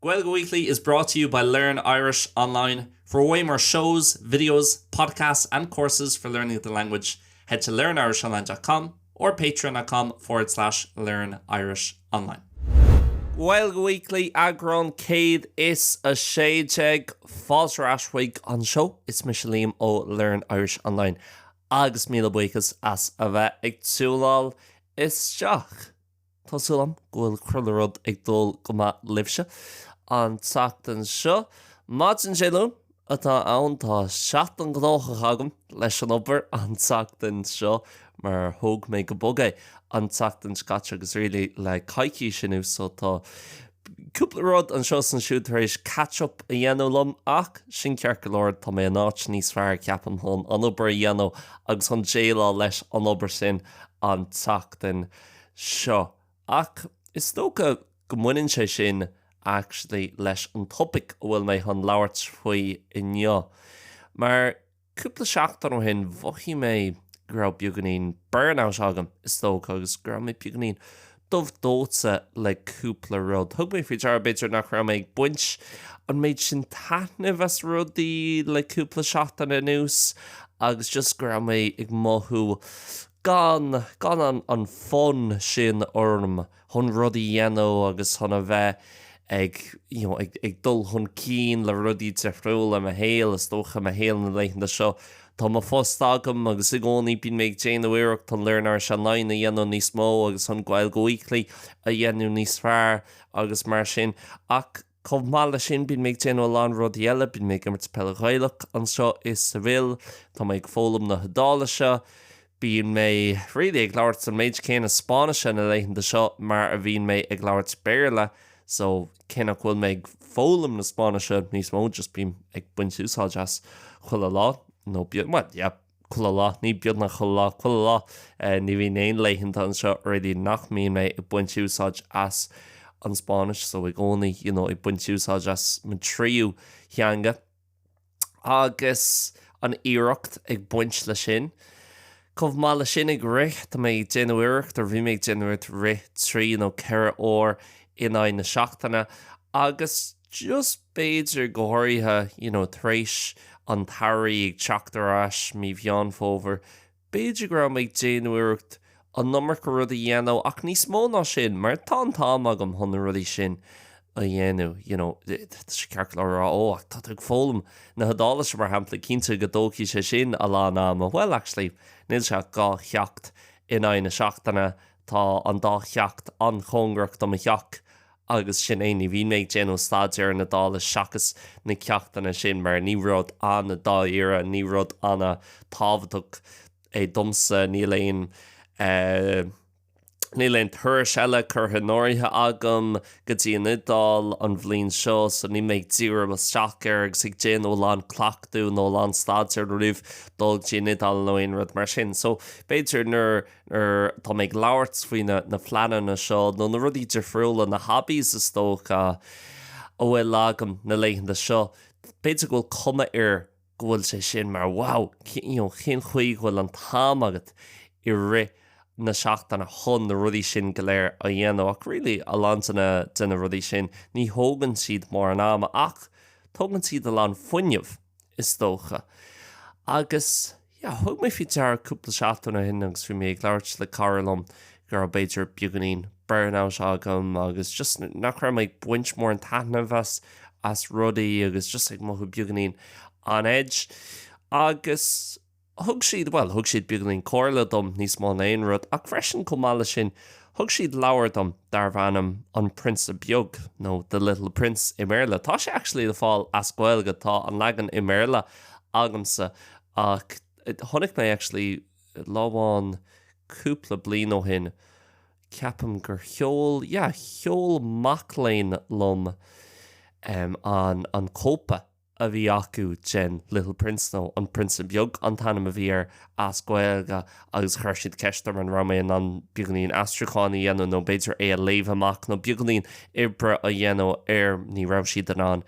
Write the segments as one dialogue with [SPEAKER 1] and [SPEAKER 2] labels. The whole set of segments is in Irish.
[SPEAKER 1] Gaeilge Weekly is brought to you by Learn Irish Online. For way more shows, videos, podcasts and courses for learning the language, head to learnirishonline dot com or patreon.com forward slash learnirishonline. Gaeilge Weekly eagrán 116. Fáilte ar ais chuig an seó. Is mise Liam ó Learn Irish Online agus míle buíochas as a bheith ag tiúnáil isteach. Tá súil agam go bhfuil chuile rud ag dul go maith libhse an tseachtain seo. Maidin Dé Luain atá ann. Tá seachtain gnóthach agam leis an obair an tseachtain seo mar thóg mé go bog é an tseachtain seo caite agus really le coicís anuas so tá cúpla rud anseo is ansiúd tar éis catch up a dhéanamh liom ach sin ceart go leor, tá mé in áit níos fearr ceapaim chun an obair a dhéanamh agus chun déileáil leis an obair sin an tseachtain seo. Ach is dócha go mbaineann sé sin actually leis an topaic a bhfuil mé chun labhairt faoi inniu. Mar cúpla seachtain ó shin, mhothaigh mé go raibh beagáinín burnout agam, is dócha, agus go raibh mé beagáinín dubh dóite le cúpla rud. Thug mé faoi deara, b'fhéidir, nach raibh mé ag baint an méid sin taitnimh as rudaí le cúpla seachtain anuas agus just go raibh mé ag mothú gan, gan an, an fonn sin orm chun rudaí a dhéanamh agus chun a bheith ag, you know, ag, ag dul chun cinn le rudaí difriúla i mo shaol. Is dócha, mo shaol na laethanta seo, tá mo phost agam agus i gcónaí bíonn mé ag déanamh iarracht chun Learn Irish Online a dhéanamh níos mó agus chun Gaeilge Weekly a dhéanamh níos fearr agus mar sin ach, Chomh maith leis sin, bíonn mé ag déanamh a lán rudaí eile, bíonn mé ag imirt peil Ghaelach anseo i Seville, tá mé ag foghlaim na hIodáilise, bíonn mé, really, ag labhairt an méid céanna Spáinnise na laethanta seo mar a bhíonn mé ag labhairt Béarla, so, cé nach bhfuil mé ag foghlaim na Spáinnise níos mó, just bím ag baint úsáid as chuile lá, nó bíonn, bhuel, yeah. Chuile lá, ní beagnach chuile lá, chuile lá, ní bhíonn aon laethanta anseo really nach mbíonn mé ag baint úsáid as an Spáinnis, so i gcónaí, you know, ag baint úsáid as mo thríú teanga. Agus an iarracht ag baint leis sin. Chomh maith leis sin ag rith, tá mé ag déanamh iarracht, or bhí mé ag déanamh iarracht rith trí nó ceithre uair in aghaidh na seachtaine agus, just b'fhéidir go háirithe you know tar éis an tsamhraidh ag teacht ar ais mí Mheán Fómhair b'fhéidir go raibh mé ag déanamh iarracht an iomarca rud a dhéanamh ach níos mó ná sin mar tá an t-am agam chun na rudaí sin a dhéanamh you know tá sé éasca le rá ó ach tá tú ag foghlaim na hIodáilise mar shampla cinnte go dtógfaidh sé sin a lán ama well actually níl sé ach dhá cheacht in aghaidh na seachtaine tá an dá cheacht an-chóngarach do mo theach Agus sin é, ní bhíonn mé ag déanamh staidéir na hIodáilise seachas na ceachtanna sin mar ní rud an-dáiríre, ní rud an-tábhachtach é domsa. Níl aon, níl aon turais eile curtha in áirithe agam go dtí an Iodáil an bhliain seo so níl mé ag díriú isteach air agus ag déanamh a lán cleachtaidh nó a lán staidéir roimh dul go dtí an Iodáil nó aon rud mar sin. So b'fhéidir nuair. Nuair atá mé ag labhairt faoi na pleananna seo, nó na rudaí difriúla, na hobbies is dócha, a bhfuil agam na laethanta seo, b'fhéidir go bhfuil cuma air go bhfuil sé sin mar wow, you know, cén chaoi go bhfuil an t-am agat i rith na seachtaine chun na rudaí sin go léir a dhéanamh ach really a lán de na, de na rudaí sin, ní thógann siad mórán ama ach tógann siad a lán fuinnimh is dócha agus. Yeah, thug mé faoi deara cúpla seachtain ó shin agus bhí mé ag labhairt le cara liom go raibh b'fhéidir beagáinín burnout agam agus just nach raibh mé ag baint mórán taitneamh as as rudaí agus just ag mothú beagáinín on edge agus thug siad well thug siad beagáinín comhairle dom níos mó ná aon rud ach freisin chomh maith leis sin thug siad leabhar dom darbh ainm An Prionsa Beag nó The Little Prince i mBéarla. Tá sé actually le fáil as Gaeilge, tá an leagan i mBéarla agamsa Ach chonaic mé actually lá amháin cúpla bliain ó shin, ceapaim gur sheol, yeah, sheol mac léinn liom an cóip a bhí acu den Little Prince nó An Prionsa Beag an t-ainm a bhí air as Gaeilge agus chuir siad ceist orm an raibh mé in ann beagáinín aistriúcháin a dhéanamh nó b'fhéidir é a léamh amach nó beagáinín oibre a dhéanamh air, ní raibh siad in ann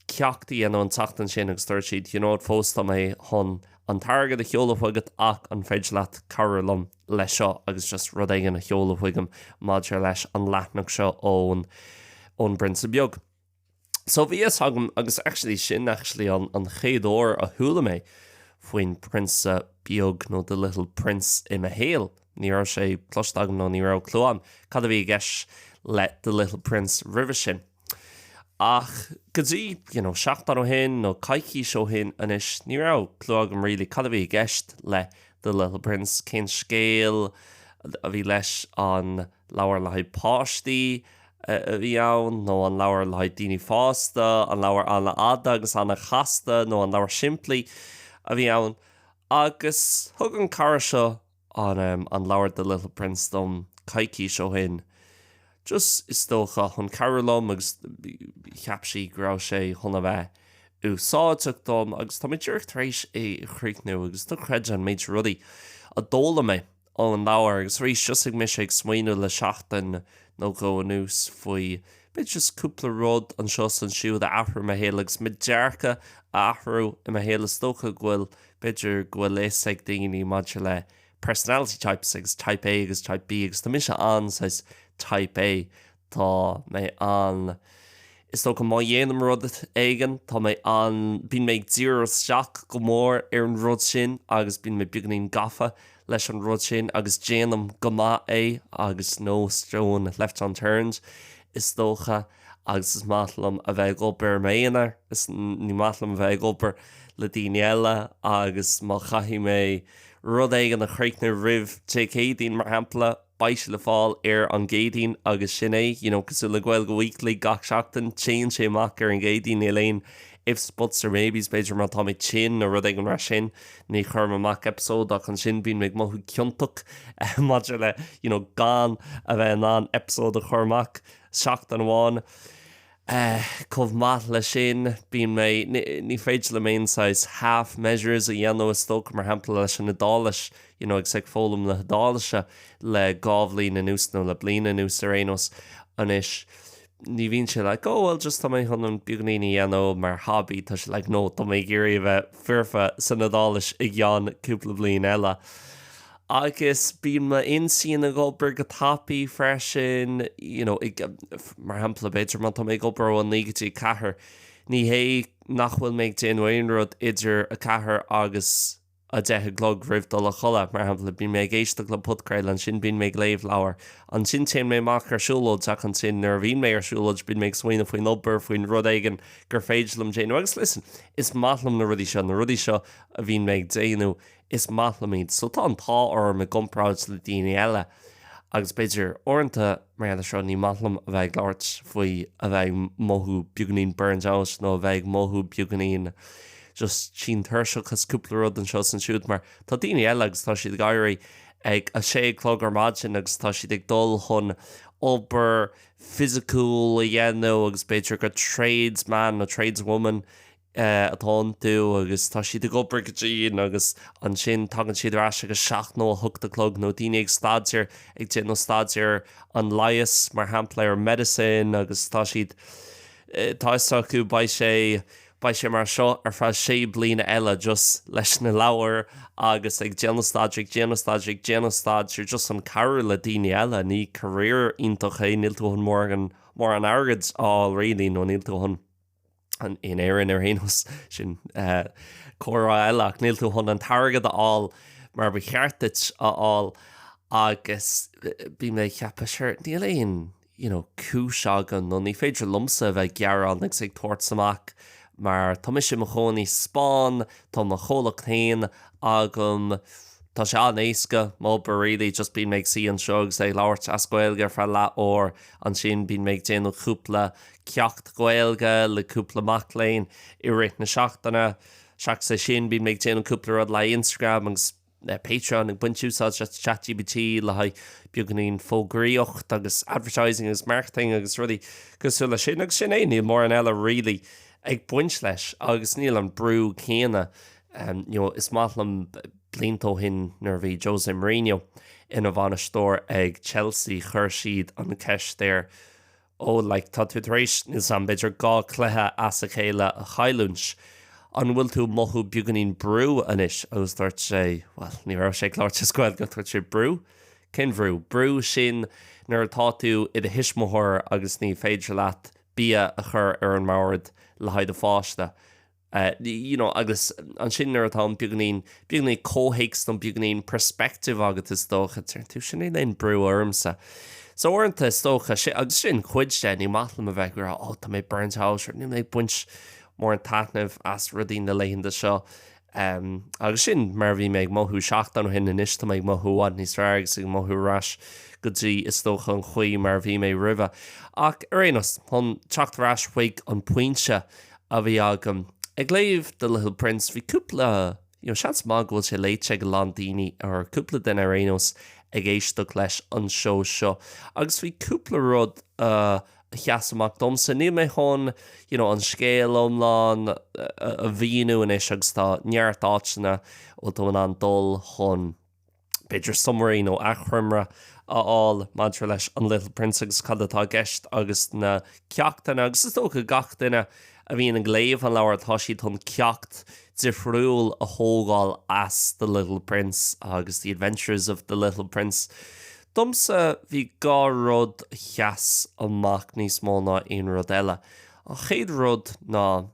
[SPEAKER 1] ceacht a dhéanamh an tseachtain sin agus dúirt siad, you know, fós tá mé chun an t-airgead a sheoladh chugat ach an féidir leat cabhrú liom leis seo agus just rud éigin a sheoladh chugaim maidir leis an leathanach seo ón bPrionsa Beag. So bhí a fhios agam agus actually sin actually an chéad uair a chuala mé faoin Prionsa Beag nó The Little Prince i mo shaol. Ní raibh sé cloiste agam nó ní raibh clue agam cad a bhí i gceist le The Little Prince roimhe sin. Ach go dtí, you know, seachtain ó shin nó coicís ó shin anois, ní raibh clue agam really cad a bhí i gceist le The Little Prince, cén scéal a bhí leis, an leabhar le haghaidh páistí a bhí ann nó an leabhar le haghaidh daoine fásta, an leabhar an-fhada agus an-chasta nó an leabhar simplí a bhí ann. Agus thug an cara seo an, em, an leabhar The Little Prince dom coicís ó shin, just, is dócha, chun cabhrú liom agus cheap sí go raibh sé chun a bheith úsáideach dom agus tá mé díreach tar éis é a chríochnú agus ní chreidfinn an méid rudaí a d'fhoghlaim mé ón leabhar agus arís, thosaigh mise ag smaoineamh le seachtain nó dhó anuas faoi, b'fhéidir, just cúpla rud anseo is ansiúd a athrú i mo shaol agus mo dhearcadh a athrú i mo shaol, is dócha go bhfuil. B'fhéidir go bhfuil fhios ag daoine maidir le personality types agus Type A agus Type B agus tá mise an saghas Type A. Tá mé an, is dócha má dhéanaim rud éigin, tá mé an, bíonn mé ag díriú isteach go mór ar an rud sin agus bíonn mé beagainín gafa leis an rud sin agus déanaim go maith é agus no stone left unturned is dócha. agus is maith liom a bheith ag obair i m'aonar, is ní maith liom a bheith ag obair le daoine eile agus má chaithfidh mé rud éigin a chríochnú roimh Dé Céadaoin, mar shampla, beidh sé le fáil ar an gCéadaoin agus sin é, you know, cosúil le Gaeilge Weekly gach seachtain, téann sé amach ar an gCéadaoin, níl aon ifs, buts or maybes, b'fhéidir má tá mé tinn nó rud éigin mar sin, ní chuirim amach eipeasóid ach ansin bíonn mé ag mothú ciontach maidir le, you know, gan a bheith in ann eipeasóid a chur amach. seachtain amháin. Chomh maith leis sin, bíonn mé, ní féidir liom aon saghas half measures a dhéanamh is dócha, mar shampla leis an Iodáilis, you know agus ag foghlaim na hIodáilise le dhá bhliain anuas nó le bliain anuas ar aon nós. Anois, ní bhíonn sé like, oh well just tá mé chun beagainín a dhéanamh mar hobby, tá sé like, no, tá mé ag iarraidh a bheith foirfe san Iodáilis i gceann cúpla bliain eile. Agus bíonn m'intinn ag obair go tapaidh freisin, you know, ag, mar shampla, b'fhéidir má tá mé ag obair ó a naoi go dtí a ceathair, ní hé nach bhfuil mé ag déanamh aon rud idir a ceathair agus a deich a chlog roimh dul a chodladh, mar shampla, bíonn mé ag éisteacht le podchraoladh, ansin bíonn mé ag léamh leabhar, ansin téann mé amach ar siúlóid ach ansin nuair a bhíonn mé ar siúlóid bíonn mé ag smaoineamh faoin obair, faoin rud éigin gur féidir liom déanamh agus listen, is maith liom na rudaí seo, na rudaí seo a bhíonn mé ag déanamh, is maith liom iad so tá an t-ádh orm i gcomparáid le daoine eile agus b'fhéidir uaireanta mar gheall ar seo ní maith liom a bheith ag labhairt faoi a bheith ag mothú beagainín burned out nó a bheith ag mothú beagainín just tinn tuirseach as cúpla rud anseo is ansiúd mar tá daoine eile agus tá siad ag éirí ag a sé a chlog ar maidin agus tá siad ag dul chun obair fisiciúil a dhéanamh agus b'fhéidir go tradesman nó tradeswoman you atá iontu agus tá siad ag obair go dian agus ansin tagann siad ar ais ag a seacht nó a hocht a chlog nó daoine ag staidéar ag déanamh staidéar ar an leigheas mar shampla ar medicine agus tá siad tá fhios acu beidh sé beidh sé mar seo ar feadh sé bliana eile just leis na leabhair agus ag déanamh staidéar ag déanamh staidéar ag déanamh staidéar just chun cabhrú le daoine eile ní career iontach é níl tú chun mórán mórán airgid a fháil really nó níl tú chun in Éirinn ar aon nós sin eh, comhrá eile ach níl tú chun an t-airgead a fháil mar ba cheart duit a fháil agus eh, bhí mé ag ceapadh sure níl aon you know, cúis agam nó ní féidir liomsa a bheith gearán agus ag tabhairt amach mar tá mise i mo chónaí sa Spáinn, tá mo chomhlacht féin agam, tá sé an-éasca m'obair really, just bíonn mé ag suí anseo agus ag labhairt as Gaeilge ar feadh leath uair, ansin bíonn mé ag déanamh cúpla ceacht Gaeilge le cúpla mac léinn i rith na seachtaine. Seachas é sin, bíonn mé ag déanamh cúpla rud le haghaidh Instagram agus Patreon, ag baint úsáid as Chat GPT le haghaidh beagáinín fógraíocht agus advertising agus marketing agus rudaí cosúil leis sin. Agus sin é, níl mórán eile really ag baint leis agus níl an brú céanna um, you know, is maith liom blianta ó shin nuair bhí Jose Mourinho ina bhainisteoir ag Chelsea chuir siad an ceist air Ó, like, tá tú tar éis, níl 's 'am, b'fhéidir dhá cluiche as a chéile a chailliúint, an bhfuil tú mothú beagainín brú anois? Agus dúirt sé, bhuel, ní raibh sé ag labhairt as Gaeilge ach dúirt sé, brú? Cén bhrú? Brú sin nuair atá tú i do thuismitheoir agus ní féidir leat bia a chur ar an mbord le haghaidh do pháiste. you know, agus ansin nuair atá an beagainín, beagainín comhthéacs nó beagainín perspective agat is dócha, deir tú, sin é níl aon brú ormsa. So uaireanta is dócha, si-, agus sin cuid de, ní maith liom a bheith ag rá, oh, tá mé burnt out, nó níl mé ag baint mórán taitnimh as rudaí na laethanta seo. Um, agus sin mar a bhí mé ag mothú seachtain ó shin, anois tá mé ag mothú i bhfad níos fearr agus ag mothú ar ais go dtí, is dócha, an chaoi mar a bhí mé roimhe. Ach ar aon nós, chun teacht ar ais chuig an pointe, a bhí agam. Ag léamh The Little Prince, bhí cúpla, you know, seans maith go bhfuil sé léite ag a lán daoine, or cúpla duine ar aon nós ag éisteacht leis an seó seo, agus bhí cúpla rud a sheas amach domsa. Níl mé chun, you know, an scéal iomlán a mhíniú anois agus tá neart áiteanna a bhfuil tú in ann dul chun, b'fhéidir summary nó achoimre a fháil maidir leis An Little Prince agus cad atá i gceist agus na ceachtanna. Agus is dócha gach duine a bhíonn ag léamh an leabhair tá siad chun ceacht difriúil a thógáil as The Little Prince agus The Adventures of the Little Prince. Domsa bhí dhá rud a sheas amach níos mó ná aon rud eile. An chéad rud ná,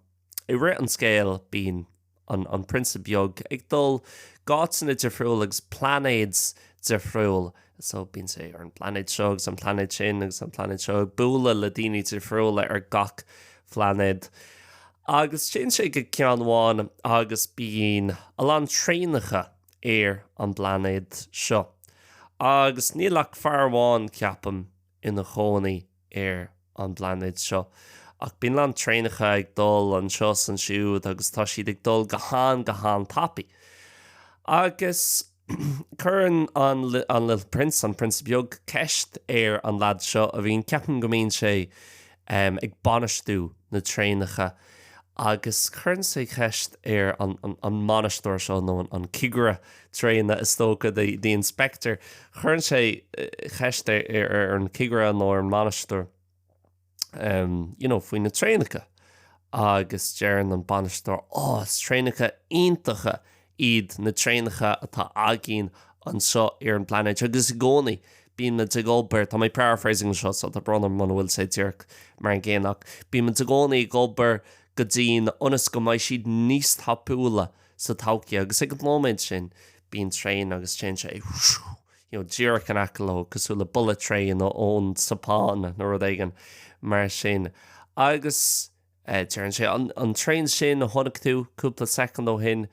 [SPEAKER 1] i rith an scéil bíonn an an prionsa beag ag dul go háiteanna difriúil agus pláinéads difriúil so bíonn sé ar an bpláinéad seo agus an pláinéad sin agus an pláinéad seo ag bualadh le daoine difriúil ar gach pláinéad agus téann sé go ceann amháin agus bíonn a lán traenacha ar an bpláinéad seo agus níl ach fear amháin ceapaim ina chónaí ar an bpláinéad seo. Ach bíonn a lán traenacha ag dul anseo is ansiúd agus tá siad ag dul go han, go han-tapaidh. Agus cuireann an, an Little Prince, An Prionsa Beag, ceist ar an leaid seo a bhíonn, ceapaim go mbíonn sé, em, ag bainistiú na traenacha. Agus cuireann sé ceist ar an an mbainisteoir seo, nó an cigire traenach is dócha, the the inspector, cuireann sé ceist ar ar ar an cigire nó ar an mbainisteoir ehm you know faoi na traenacha agus deireann an bainisteoir, oh is traenacha iontacha iad na traenacha atá againn anseo ar an bpláinéad agus i gcónaí bímid ag obair, tá mé ag paraphrasing seo so tá brón orm muna bhfuil sé díreach mar an gcéanna ach bímid i gcónaí ag obair go dian ionas go mbeidh siad níos tapúla sa todhchaí agus ag an nóiméad sin bíonn traen agus téann sé you know díreach in aice leo cosúil le bullet train ón tSeapáin nó rud éigin mar sin agus deireann sé, an traen sin a chonaic tú cúpla soicind ó shin,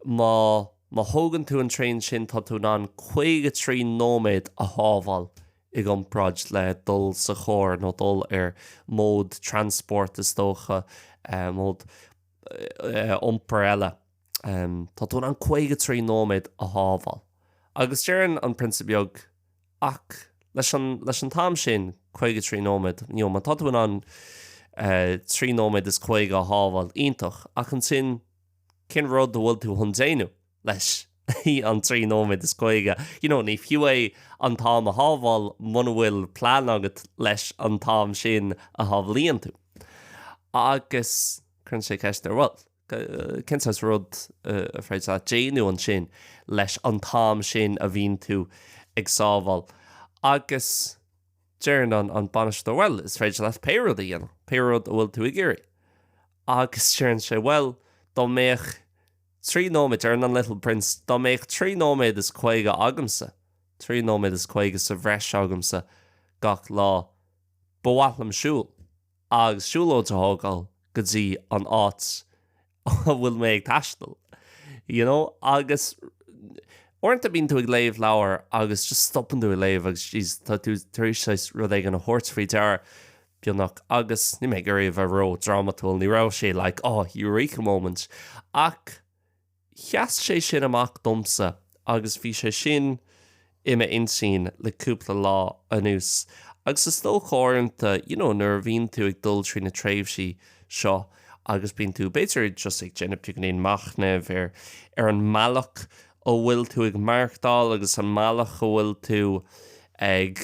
[SPEAKER 1] má má thógann tú an traen sin tá tú in ann caoga trí nóiméad a shábháil i gcomparáid le dul sa charr nó dul ar mode transport is dócha, mode iompair eile. Tá tú in ann caoga trí nóiméad a shábháil. Agus deireann an prionsa beag Ach leis an leis an t-am sin, caoga trí nóiméad, you know, má tá tú in ann trí nóiméad is caoga a shábháil, iontach, ach ansin, cén rud a bhfuil tú chun déanamh leis an trí nóiméad is caoga? You know, ní fiú é an t-am a shábháil muna bhfuil plean agat leis an t-am sin a shábhálaíonn tú. Agus cuireann sé ceist ar, bhuel, cén saghas rud ar féidir leat déanamh ansin leis an t-am sin a bhíonn tú ag sábháil. Agus deireann an bainisteoir bhuel, is féidir leat pé rud a dhéanamh, pé rud a bhfuil tú ag iarraidh. Agus deireann sé bhuel, dá mbeadh trí nóiméad, deireann an little prince, dá mbeadh trí nóiméad is caoga agamsa, trí nóiméad is caoga sa bhreis agamsa gach lá, ba mhaith liom siúl. agus siúlóid a thógáil go dtí an áit a bhfuil mé ag taisteal, you know. Agus uaireanta bíonn tú ag léamh leabhar agus just stopann tú ag léamh agus jeez, tá tú tar éis saghas rud éigin a thabhairt faoi deara, beagnach. Agus níl mé ag iarraidh a bheith ró-drámatúil, ní raibh sé like, oh, eureka moment, ach. Sheas sé sin amach domsa agus bhí sé sin i m'intinn le cúpla lá anuas. Agus is dócha uaireanta, you know, nuair a bhíonn tú ag dul trí na tréimhsí seo agus bíonn tú, b'fhéidir, just ag déanamh beagainín beag machnaimh ar, ar an mbealach a bhfuil tú ag maireachtáil agus an mbealach a bhfuil tú ag,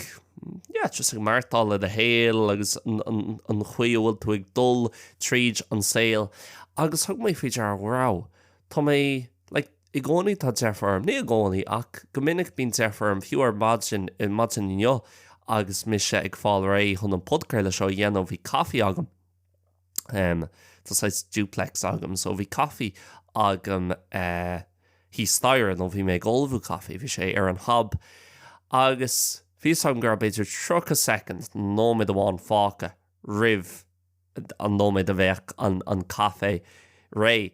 [SPEAKER 1] yeah, just ag maireachtáil le do shaol agus an chaoi a bhfuil tú ag dul tríd an saol agus thug mé faoi deara go raibh, tá mé, like, i gcónaí tá deifir orm, ní i gcónaí ach go minic bíonn deifir orm fiú ar maidin, ar maidin inniu agus mise ag fáil réidh chun an podcraoladh seo a dhéanamh bhí caife agam. Tá saghas duplex agam so bhí caife agam thíos staighre nó bhí mé ag ullmhú caife, bhí sé ar an hob agus bhí fhios agam go raibh b'fhéidir tríocha soicind nó nóiméad amháin fágtha roimh an nóiméad a bheadh an caife réidh.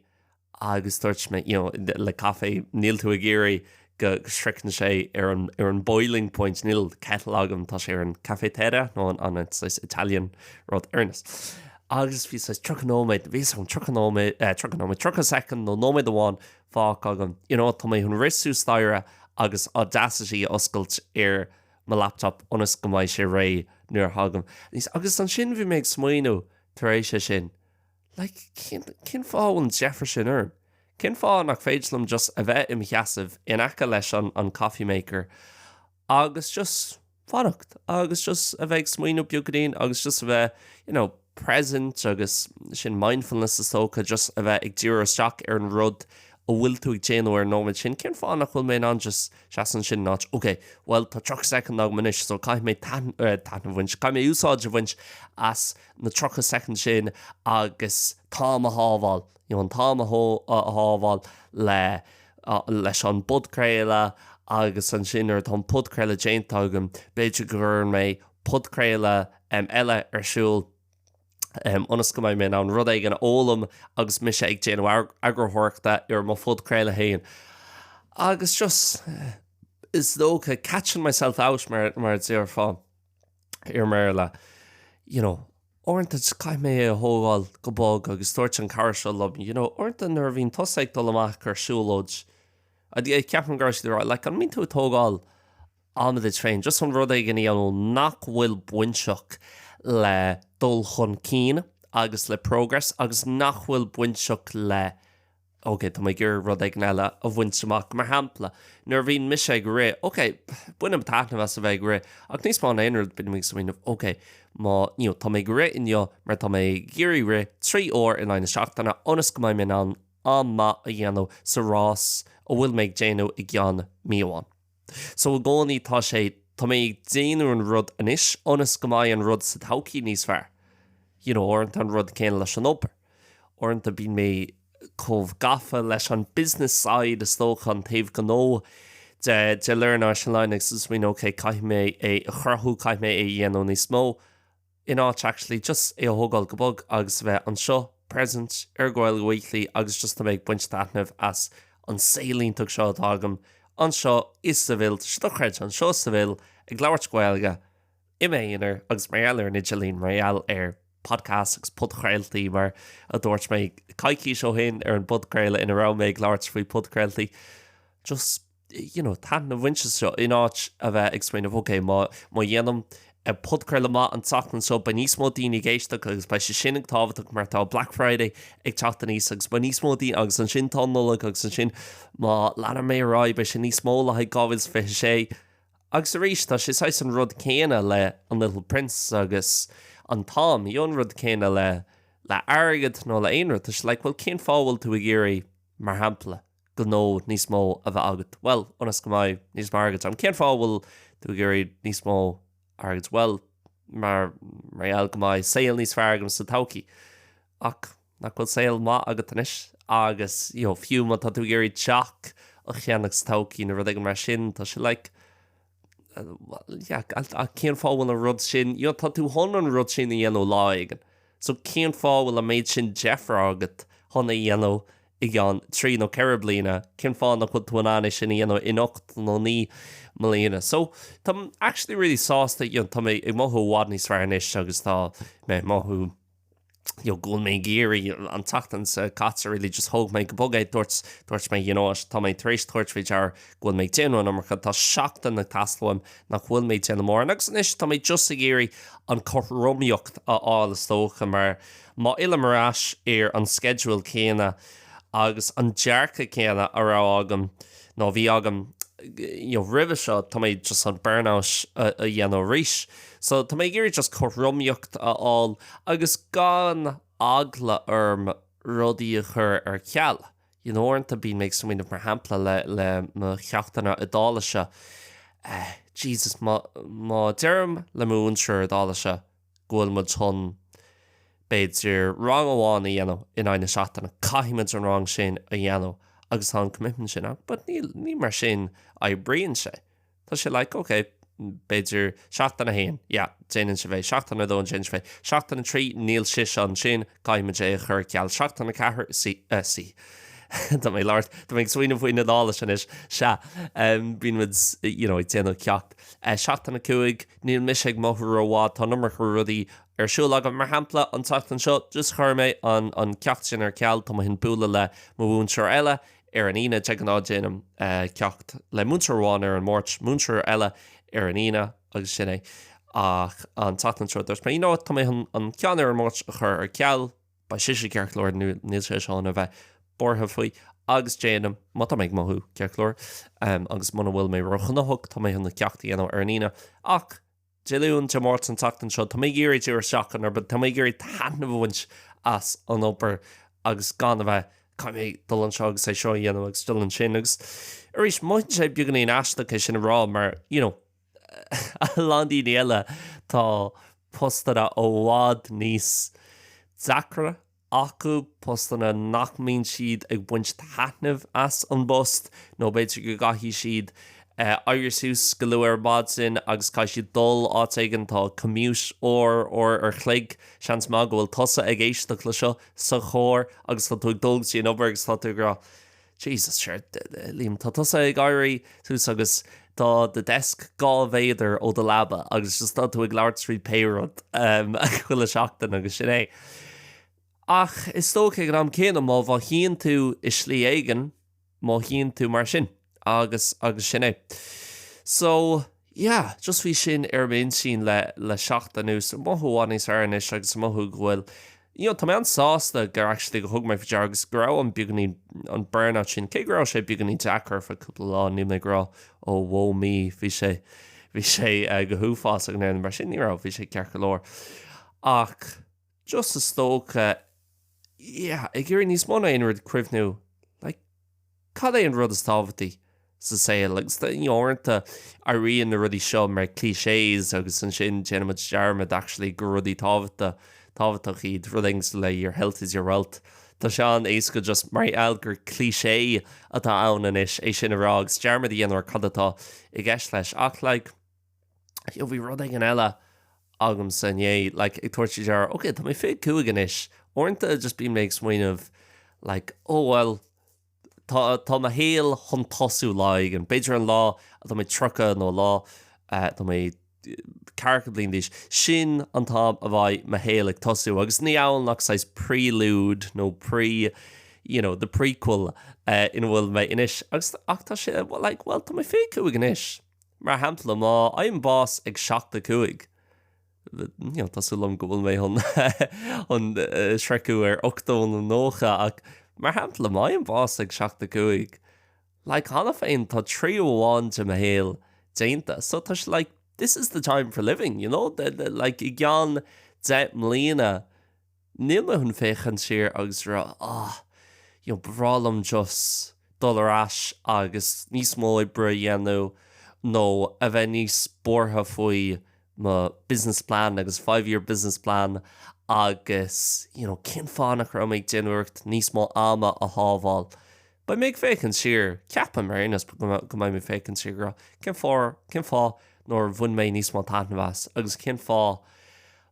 [SPEAKER 1] agus dúirt mé, you know, le caife, níl tú ag iarraidh go sroicheann sé ar an, ar an boiling point, níl kettle agam, tá sé ar an cafetière, nó an, an, an, saghas Italian rud ar aon nós. Agus bhí saghas tríocha nóiméad, bhíos ann tríocha nóiméad, eh, tríocha nóiméad, tríocha soicind nó nóiméad amháin fágtha agam, you know, tá mé chun rith suas staighre agus Audacity a oscailt ar mo laptop ionas go mbeidh sé réidh nuair a thagaim aníos, agus ansin bhí mé ag smaoineamh, tar éis é sin, like, cén, cén fáth a bhfuil an deifir sin orm? Cén fáth nach féidir liom just a bheith im' sheasamh in aice leis an, an coffee maker agus just fanacht agus just a bheith ag smaoineamh beagainín agus just a bheith, you know, present agus sin mindfulness is dócha, just a bheith ag díriú isteach ar an rud a bhfuil tú ag déanamh ar an nóiméad sin. Cén fáth nach bhfuil mé in ann just seasamh ansin in áit, okay, bhuel tá tríocha soicind agam anois so caithfidh mé taitneamh a bhaint, caithfidh mé úsáid a bhaint as na 30 soicind sin agus an t-am a shábháil, you know, an t-am a shábháil le, leis an bpodchraoladh agus ansin nuair atá an podchraoladh déanta agam, b'fhéidir go gcuireann mé podchraoladh eile ar siúl ionas go mbeidh mé in ann rud éigin a fhoghlaim agus mise ag déanamh eagarthóireachta ar mo phodchraoladh féin. Agus just, is dócha, catching myself out mar a déarfá. i mBéarla, you know, uaireanta caithfidh mé é a thógáil go bog agus dúirt an cara seo liom, you know, uaireanta nuair a bhíonn tusa ag dul amach ag siúlóid, ceapaim go raibh siad ag rá, like, an mbíonn tú ag tógáil ama duit féin, just chun rud éigin a dhéanamh nach bhfuil bainteach le dul chun cinn agus le progress agus nach bhfuil bainteach le OK, tá mé ag iarraidh rud éigin eile a bhaint amach. Mar shampla, nuair a bhíonn mise ag rith, OK, bainim taitneamh as a bheith ag rith, ach níos mó ná aon rud bím ag smaoineamh, OK, má you know, tá mé ag rith inniu mar tá mé ag iarraidh rith trí uair in aghaidh na seachtaine ionas go mbeidh mé in ann am maith a dhéanamh sa rás a bhfuil mé ag déanamh i gceann mí amháin. So i gcónaí tá sé, tá mé ag déanamh an rud anois ionas go mbeidh an rud sa todhchaí níos fearr. You know, uaireanta an rud céanna leis an obair. Uaireanta bíonn mé chomh gafa leis an business side is dócha, an taobh gnó de, de Learn Irish Online agus is mé, okay, caithfidh mé é a chruthú, caithfidh mé é a dhéanamh níos mó. in áit actually just é a thógáil go bog agus a bheith anseo, present, ar Ghaeilge Weekly agus just a bheith ag baint taitneamh as an saol iontach seo atá agam anseo i Seville. Tá sé dochreidte, anseo i Seville, ag labhairt Gaeilge i m'aonar agus mar gheall ar an idirlíon, mar gheall ar podcasts agus podchraoltaí mar a dúirt mé coicís ó shin ar an bpodchraoladh ina raibh mé ag labhairt faoi podchraoltaí. Just. you know, taitneamh a bhaint as seo in áit a bheith ag smaoineamh ok, má má dhéanaim eh, podchraoladh maith an tseachtain seo beidh níos mó daoine ag éisteacht agus beidh sé sin ag tábhachtach mar tá Black Friday ag teacht aníos agus beidh níos mó daoine agus ansin tá an Nollaig agus ansin má leanann mé ar aghaidh beidh sé níos mó le haghaidh 2026 agus arís tá sé saghas an rud céanna le an Little Prince agus an t-am nó an rud céanna le le airgead nó le aon rud tá sé like bhuel cén fáth a bhfuil tú ag iarraidh mar shampla gnó níos mó a bheith agat? Bhuel, ionas go mbeidh níos mó airgid agam. Cén fáth a bhfuil tú ag iarraidh níos mó airgid? Bhuel, mar gheall go mbeidh saol níos fearr agam sa todhchaí. Ach nach bhfuil saol maith agat anois? Agus fiú má tá tú ag iarraidh teach a cheannach sa todhchaí nó rud éigin mar sin, tá sé like, cén fáth bhfuil an rud sin, you know, tá tú chun an rud sin a dhéanamh lá éigin. So cén fáth bhfuil an méid sin deifre agat chun é a dhéanamh i gceann trí nó ceithre bliana, cén fáth nach bhfuil tú in ann é sin a dhéanamh in ocht nó naoi mbliana? So táim actually really sásta, you know, tá mé ag mothú i bhfad níos fearr anois agus tá mé ag mothú, you know, go bhfuil mé ag iarraidh an tseachtain seo caite really just thóg mé go bog é dúirt dúirt mé you know what, tá mé tar éis tabhairt faoi deara go bhfuil mé ag déanamh an iomarca tá seachtain ag teastáil uaim nach bhfuil mé ag déanamh mórán agus anois tá mé just ag iarraidh an cothromaíocht a fháil is dócha mar má fhillim ar ais ar an sceideal céanna agus an dearcadh céanna a raibh agam nó bhí agam you know roimhe seo, tá mé just chun burnout a dhéanamh arís. So tá mé ag iarraidh just cothromaíocht a fháil agus gan eagla orm rudaí a chur ar ceal. You know, uaireanta bíonn mé ag smaoineamh mar shampla le le mo cheachtanna Iodáilise, eh, Jesus, má má deirim le mo mhúinteoir Iodáilise, go bhfuil muid chun, b'fhéidir, rang amháin a dhéanamh in aghaidh na seachtaine. Caithfidh muid an rang sin a dhéanamh agus tá an commitment sin ann. But níl, ní mar sin a oibríonn sé. Tá sé like, OK, b'fhéidir seachtain a haon, yeah, déanann sibh é, seachtain a dó, déanann sibh é, seachtain a trí, níl sise ansin, caithfidh muid é a chur ar ceal, seachtain a ceathair, see, eh, see, tá mé ag labhairt, tá mé ag smaoineamh faoin Iodáilis anois, sea, em, bíonn muid, you know, ag déanamh ceacht. Seachtain 5, Níl mise ag mothú rómhaith, tá an iomarca rudaí ar siúl agam. Mar shampla, an tseachtain seo, just chuir mé an ceacht sin ar ceal, tá mé chun bualadh le mo mhúinteoir eile ar an Aoine, de ghnáth déanaim ceacht le múinteoir amháin ar an Máirt, múinteoir eile ar an Aoine agus sin é. Ach an tseachtain seo, dúirt mé, you know what, tá mé chun an ceann ar an Máirt a chur ar ceal. Beidh sise ceart go leor nó níl sé chun a bheith buartha faoi agus déanaim, má tá mé ag mothú ceart go leor agus muna bhfuil mé róghnóthach, tá mé chun an ceacht a dhéanamh ar an Aoine. Ach Dé Luain, Dé Máirt, an tseachtain seo, tá mé ag iarraidh díriú isteach ar an obair, tá mé ag iarraidh taitneamh a bhaint as an obair agus gan a bheith, caithfidh mé dul anseo agus é seo a dhéanamh agus dul ansin agus arís, mothaíonn sé beagáinín aisteach é sin a rá mar, you know, a lán daoine eile, tá postanna i bhfad níos deacra acu, postanna nach mbíonn siad ag baint taitneamh as an bpost nó b'fhéidir go gcaithfidh siad éirí suas go luath ar maidin agus caithfidh siad dul áit éigin, tá commute uair, uair an chloig. Seans maith go bhfuil tusa ag éisteacht le seo sa charr agus tá tú ag dul go dtí an obair agus tá tú ag rá. Jesus, sure, Liam, tá tusa ag éirí suas agus tá do deisc dhá mhéadar ó do leaba agus just tá tú ag labhairt trí pé rud chuile seachtain agus sin é. Ach is dócha ag an am céanna má mhothaíonn tú i slí éigin, mothaíonn tú mar sin agus, agus sin é. So, Yeah, just bhí sin ar m'intinn le, le seachtain anuas, ag mothú i bhfad níos fearr anois agus ag mothú go bhfuil, you know, tá mé an-sásta gur actually, gur thug mé faoi deara agus go raibh an beagáinín, an burnout sin, cé go raibh sé beagáinín deacair ar feadh cúpla lá, níl mé ag rá, oh, woe me, bhí sé, bhí sé go huafásach nó mar sin, ní raibh, bhí sé ceart go leor. Ach. Just is dócha, yeah, ag iarraidh níos mó ná aon rud ag cuimhniú, like, cad é an rud is tábhachtaí sa saol? Agus tá, uaireanta, éiríonn na rudaí seo mar clichés agus ansin déanann muid dearmad, actually, gur rudaí tábhachta, tábhachtach iad, rudaí cosúil le your health is your wealth. Tá sé an-éasca just mar gheall gur cliché atá ann anois é sin a rá agus dearmad a dhéanamh ar cad atá i gceist leis. Ach, like, So bhí rud éigin eile agamsa inné, like, ag tabhairt faoi deara, ok, tá mé 25 anois, uaireanta just bím mé ag smaoineamh, like, oh well, tá, tá mo shaol chun tosú lá éigin, b'fhéidir an lá atá mé 30 nó an lá atá mé ceathracha bliain d'aois, sin an t-am a bheidh mo shaol ag tosú, agus ní amhail nach saghas prelude nó pre, you know, the prequel ina bhfuil mé anois, agus, ach tá sé, like, well, tá mé 25 anois. Mar shampla, má fhaighim bás ag 75, tá súil agam go bhfuil mé chun sroicheadh ar 80 nó 90, ach mar shampla, má fhaighim bás ag 75, like, cheana féin, tá triú amháin de mo shaol déanta, so tá sé like, this is the time for living, you know, like, i gceann 10 mbliana, Níl mé chun féachaint siar agus a rá, ah, you know, ba bhreá liom just dul ar ais agus níos mó oibre a dhéanamh nó a bheith níos buartha faoi mo business plan agus five year business plan agus, you know, cén fáth nach raibh mé ag déanamh iarracht níos mó ama a shábháil. Beidh mé ag féachaint siar, ceapaim, ar aon nós, go mbeidh mé ag féachaint siar go raibh, cén fáth, cén fáth nár bhain mé níos mó taitneamh as agus cén fáth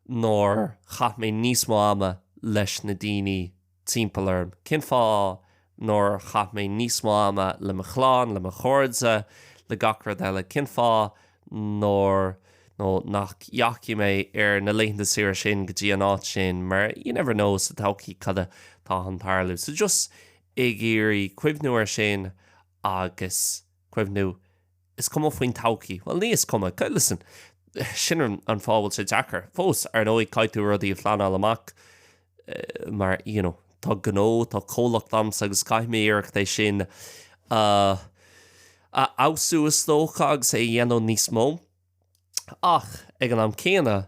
[SPEAKER 1] nár chaith mé níos mó ama leis na daoine timpeall orm, cén fáth nár chaith mé níos mó ama le mo chlann, le mo chairde, le gach rud eile, cén fáth nár, nó nach dheachaigh mé ar na laethanta saoire sin go dtí an áit sin, mar you never know sa todhchaí cad atá chun tarlú. So just ag iarraidh cuimhniú air sin agus cuimhniú, is cuma faoin todhchaí, bhuel, ní is cuma, listen, sin an fáth a bhfuil sé deacair. Fós, ar ndóigh, caithfidh tú rudaí a phleanáil amach mar, you know, tá gnó, tá comhlacht agamsa agus caithfidh mé iarracht é sin a fheabhsú, is dócha, agus é a dhéanamh níos mó. Ach ag an am céanna,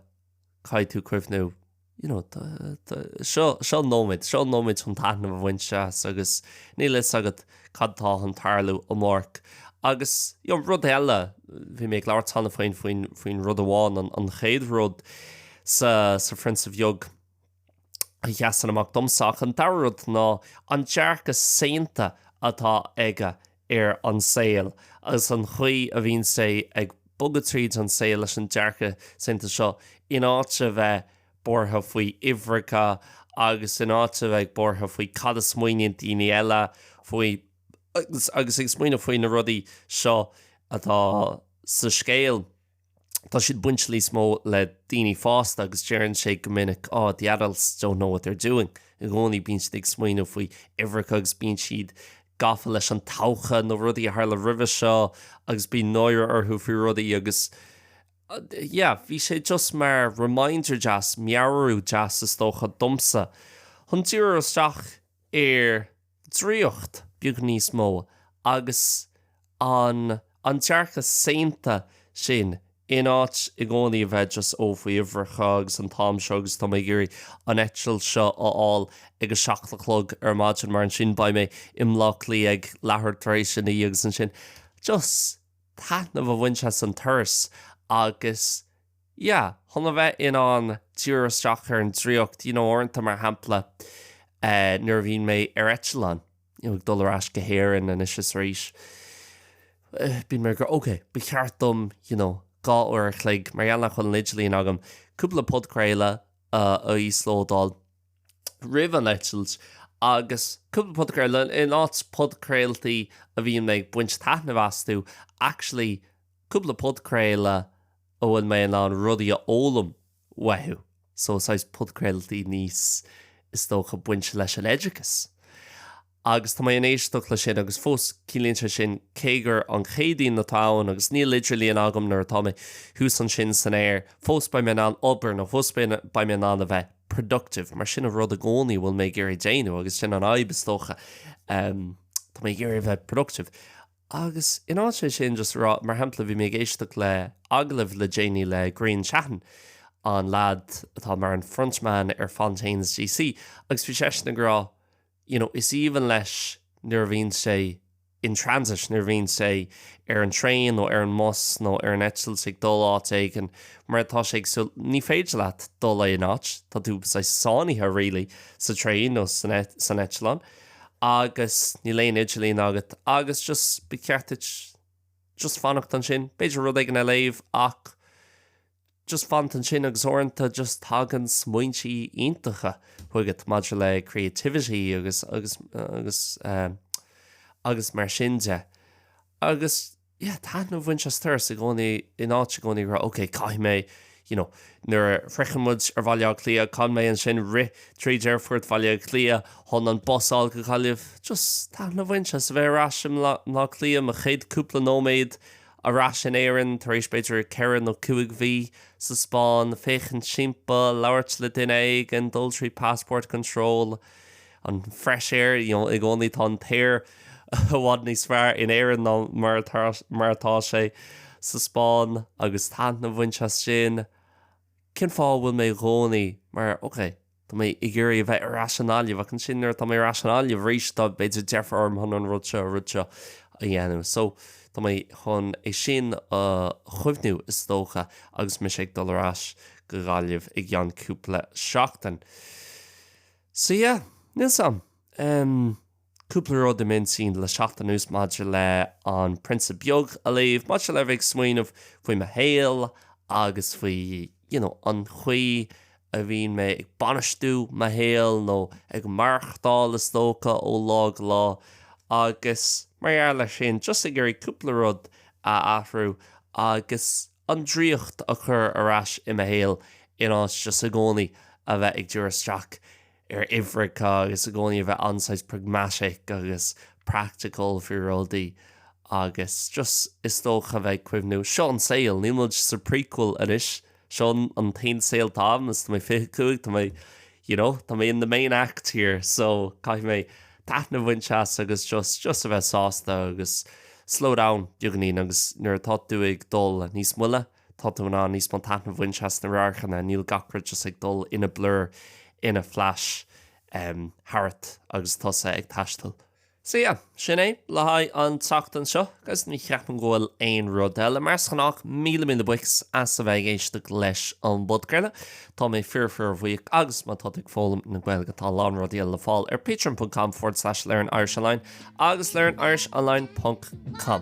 [SPEAKER 1] caithfidh tú cuimhniú, you know, tá, tá, seo, seo nóiméad, seo nóiméad chun taitneamh a bhaint as agus níl fhios agat cad atá chun tarlú amárach. Agus, you know, rud eile, bhí mé ag labhairt cheana faoin, faoin rud amháin, an, an chéad rud sa, sa Phrionsa Bheag, a sheasann amach domsa ach an dara rud ná an dearcadh saonta atá aige ar an saol agus an chaoi a bhíonn sé ag bogadh tríd an saol leis an dearcadh saonta seo in áit a bheith buartha faoi uimhreacha agus in áit a bheith ag buartha faoi cad a smaoiníonn daoine eile faoi agus ag smaoineamh faoi na rudaí seo atá sa scéal. Tá siad ag baint níos mó le daoine fásta agus deireann sé go minic, oh, the adults don't know what they're doing. I gcónaí bíonn siad ag smaoineamh faoi uimhreacha agus bíonn siad gafa leis an todhchaí nó rudaí a tharla roimhe seo agus bíonn náire orthu faoi rudaí agus, yeah, bhí sé just mar reminder deas, meabhrú deas is dócha, domsa chun díriú isteach ar draíocht beag níos mó agus an an dearcadh saonta sin in áit i gcónaí a bheith just ó faoi uimhreacha agus an t-am seo agus tá mé ag iarraidh an eitilt seo a fháil ag a seacht a chlog ar maidin mar ansin beidh mé i mBleá Cliath ag leathuair tar éis a naoi agus ansin just taitneamh a bhaint as an turas agus Yeah, chun a bheith in ann díriú isteach ar an draíocht, you know, uaireanta, mar shampla, eh, nuair a bhíonn mé ar eitleán, you know, ag dul ar ais go hÉirinn anois is arís, eh, bíonn mé ag rá, OK, ba cheart dom, you know, dhá uair a chloig, mar gheall nach bhfuil an idirlíon agam, cúpla podchraoladh, uh, a íoslódáil roimh an eitilt agus cúpla podchraoladh, in áit podchraoltaí a bhíonn mé ag baint taitneamh astu, actually, cúpla podchraoladh a bhfuil mé in ann rudaí a fhoghlaim uathu, so saghas podchraoltaí níos, is dócha, bainte leis an oideachas. Agus tá mé in ann éisteacht le sin agus fós ciallaíonn sé sin cé gur an Chéadaoin atá ann agus níl idirlíon agam nuair atá mé thuas ansin san aer, fós beidh mé in ann obair nó fós beidh mé in ann a bheith productive mar sin an rud i gcónaí a bhfuil mé ag iarraidh déanamh agus sin an fhadhb is dócha, tá mé ag iarraidh a bheith productive. Agus in áit é sin just a rá, mar shampla bhí mé ag éisteacht le agallamh le déanaí le Grian Chatten, an lad atá mar an front man ar Fontaines DC, agus bhí seisean ag rá you know is aoibhinn leis nuair a bhíonn sé in transit, nuair a bhíonn sé ar an traein nó ar an mbus nó ar an eitilt ag dul áit éigin mar tá sé ag suí, ní féidir leat dul aon áit, tá tú saghas sáinnithe really sa traein nó san eitleán. agus níl aon idirlíon agat agus just ba cheart duit just fanacht ansin, b'fhéidir rud éigin a léamh ach just fanacht ansin agus uaireanta just tagann smaointí iontacha chugat maidir le creativity agus agus agus eh, agus mar sin de agus just. yeah, taitneamh a bhaint as an turas i gcónaí in áit i gcónaí a rá, okay, caithfidh mé, you know, nuair a shroicheann muid Aerfort Bhaile Átha Cliath, caithfidh mé ansin rith trí Aerfort Bhaile Átha Cliath chun an bus a fháil go Gaillimh. Just taitneamh a bhaint as a bheith ar ais i mBaile Átha Cliath, mo chéad cúpla nóiméad ar ais in Éirinn tar éis b'fhéidir ceithre nó cúig mhí sa Spáinn, féachaint timpeall, labhairt le duine éigin, dul trí passport control. An fresh air, you know, i gcónaí tá an t-aer i bhfad níos fearr in Éirinn ná mar atá, mar atá sé sa Spáinn agus taitneamh a bhaint as sin. Cén fáth a bhfuil mé i gcónaí mar, okay, tá mé ag iarraidh a bheith ar ais i nGaillimh ach ansin nuair atá mé ar ais i nGaillimh arís tá, b'fhéidir, deifre orm chun an rud seo, rud seo a dhéanamh. So, tá mé chun é sin a chuimhniú, is dócha, agus mise ag dul ar ais go Gaillimh i gceann cúpla seachtain. So yeah, níl a fhios agam. Em, cúpla rud i m'intinn le seachtain anuas maidir le An Prionsa Beag a léamh, maidir le a bheith ag smaoineamh faoi mo shaol agus faoi, you know, an chaoi a bhíonn mé ag bainistiú mo shaoil nó ag maireachtáil is dócha ó lá go lá agus mar gheall air sin just ag iarraidh cúpla rud a athrú agus an draíocht a chur ar ais i mo shaol in áit just i gcónaí a bheith ag diriú isteach ar uimhreacha agus i gcónaí a bheith an-saghas pragmatic agus practical faoi rudaí agus just is dócha a bheith ag cuimhniú seo an saol, níl muid sa prequel anois, seo an t-aon saol atá againn is tá mé fiche cúig, tá mé you know, tá mé in the main act here so caithfidh mé taitneamh a bhaint as agus just, just a bheith sásta agus slow down beagainín agus nuair atá tú ag dul níos moille, tá tú in ann níos mó taitneamh a bhaint as na radharcanna, níl gach rud just ag dul ina blur, ina flash, em, tharat agus tusa ag taisteal. Sea, sin é le haghaidh an tseachtain seo agus ní cheapaim go bhfuil aon rud eile. Mar is gnách, míle míle buíochas as a bheith ag éisteacht leis an bpodchraoladh. Tá mé fíor fíor bhuíoch agus má tá tú ag foghlaim na Gaeilge tá a lán rudaí eile le fáil ar patreon.com forward slash learn Irish online agus learn Irish online ponc com.